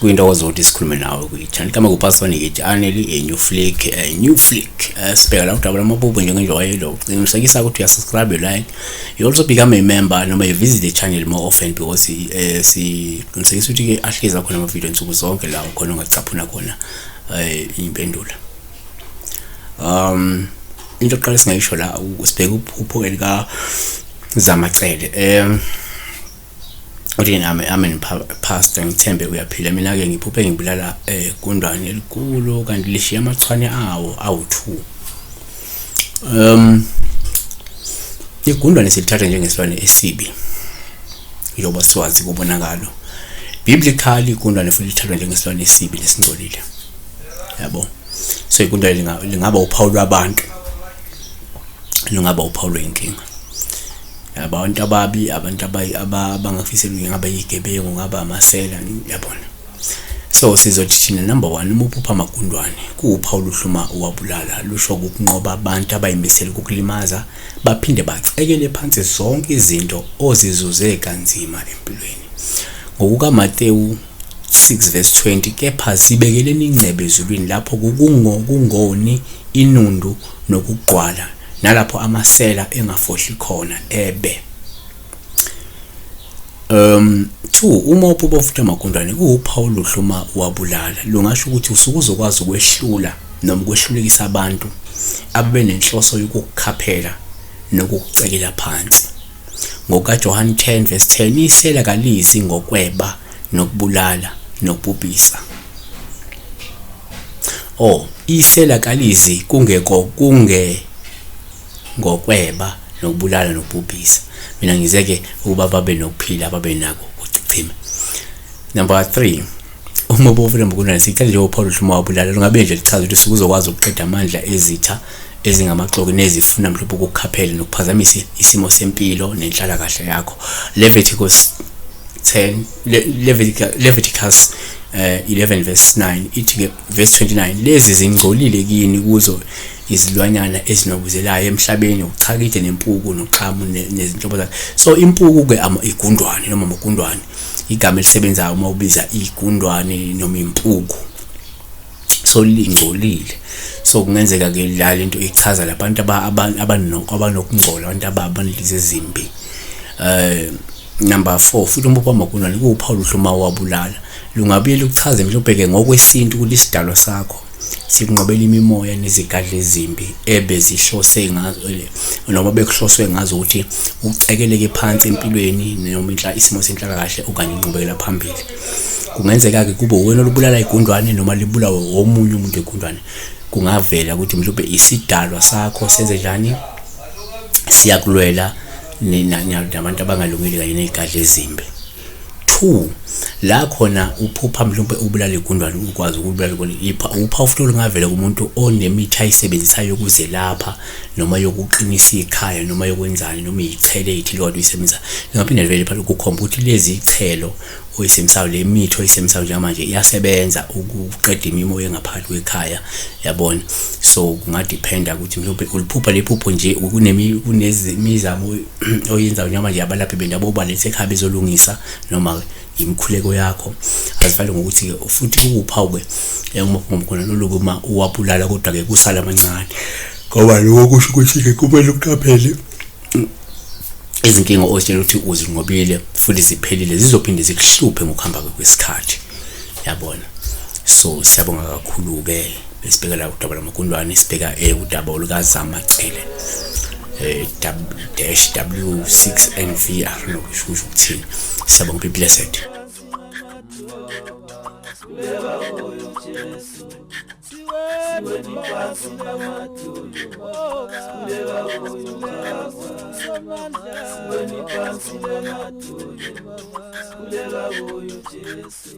kuyinto ozothi sikhulume nawe kuyithani kama kupasoni ngithi aneli a new flick a new flick eh, sibheka la udabula amabubu njengenjwayelo qinisekisa ukuthi uyasubscribe like you also become a member noma you visit the channel more often because eh, siqinisekisa ukuthi-ke ahlezi akhona amavidiyo nsuku zonke la khona ungacaphuna khona eh impendulo um into oqala singayisho la usibheka uphupho elika zamacele um uthi nami amen pastor ngithembe uyaphila mina ke ngiphuphe ngibulala eh kundwane elikhulu kanti lishiya amachwane awo awu2 um igundwane silithatha njengesilwane esibi njengoba siwazi kobonakalo biblically igundwane futhi lithathwa njengesilwane esibi lesingcolile yabo so igundwane lingaba uphawu lwabantu lungaba uphawu lwenkinga abantu ababi abantu abangafisela ngaba yigebengu ngaba amasela yabona So sizothi thina number 1 umuphupha amagundwane kuwupha oluhluma wabulala lusho ukunqoba abantu abayimisela ukukulimaza baphinde bacekele phansi zonke izinto ozizuze kanzima empilweni. Ngokuka Matewu 6 verse 20 kepha zibekeleni ingcebe ezulwini lapho kukungo kungoni inundu nokugqwala nalapho amasela engafohli khona ebe Um two uma uphupha ufuthi amagundane kuwuphawu oluhle uma wabulala lungasho ukuthi usuke uzokwazi ukwehlula noma ukwehlulekisa abantu abebenenhloso yokukukhaphela nokukucekela phansi. NgokaJohane 10 verse 10 isela kalizi ngokweba nokubulala nokubhubhisa. Oh, isela kalizi kungeko kunge ngokweba nokubulala nokubhubhisa mina ngizeke ukuba babe nokuphila babe nako kuchichima number 3 uma ubofuna mbukunani sicela njengoba uphawula ukuthi uma wabulala lungabe nje lichaza ukuthi sikuzokwazi ukuqeda amandla ezitha ezingamaxoki nezifuna mhlawumbe ukukhaphela nokuphazamisa isimo sempilo nenhlala kahle yakho Leviticus 10 Leviticus uh, eh, 11 verse 9 ithi ke verse 29 lezi zingcolile kini kuzo izilwanyana ezinobuzelayo emhlabeni uchakide nempuku noxhamu nezinhlobo zakhe so impuku ke igundwane noma amagundwane igama elisebenzayo uma ubiza igundwane noma impuku so lingcolile so kungenzeka ke la lento ichaza labantu abanokungcola abantu abanelize ezimbi eh number 4 futhi umbopha magundwane kuwuphawu luhluma wabulala lungabuye lukuchaze mhlawumbe ke ngokwesintu ukuthi isidalwa sakho sinqobela imimoya nezigadla ezimbi ebezihlose ngazo noma bekuhloswe ngazo ukuthi ucekeleke phansi empilweni noma inhla isimo senhlalakahle okanye inqubekela phambili kungenzeka-ke kube wena olubulala igundwane noma libulawe womunye umuntu egundwane kungavela ukuthi mhlawumbe isidalwa sakho senze njani siyakulwela nabantu abangalungile kanye ney'gadla ezimbi two la khona uphupha mhlawumbe ubulala igundwane ukwazi ukubulala kona ipha upha futhi olungavela kumuntu onemitha ayisebenzisayo ukuzelapha noma yokuqinisa ikhaya noma yokwenzani noma iyithele ithile kodwa uyisebenzisa lingaphinde livele phela ukukhomba ukuthi lezi ithelo oyisebenzisayo le mithi oyisebenzisayo njengamanje iyasebenza ukuqeda imimoya engaphakathi kwekhaya yabona so kungadependa ukuthi mhlawumbe uliphupha lephupho nje kunemizamo oyenza noma nje abalaphi bendabuko ubalethe ekhaya bezolungisa noma yimikhuleko yakho azifale ngokuthi futhi kuwuphawu-ke eh, uma kungomukhona loluke uma uwabulala kodwa-ke kusala amancane ngoba loko kusho ukuthi-ke kumele uqaphele izinkinga ozitshela ukuthi uzinqobile futhi ziphelile zizophinde zikuhluphe ngokuhamba kwesikhathi yabona so siyabonga kakhulu-ke Besibheka la udaba lwamagundwane sibheka eh, udaba olukazama cele eh, dash w6 nvr lokusho kusho ukuthini siyabonga be blessed Kuleka uyu Jesu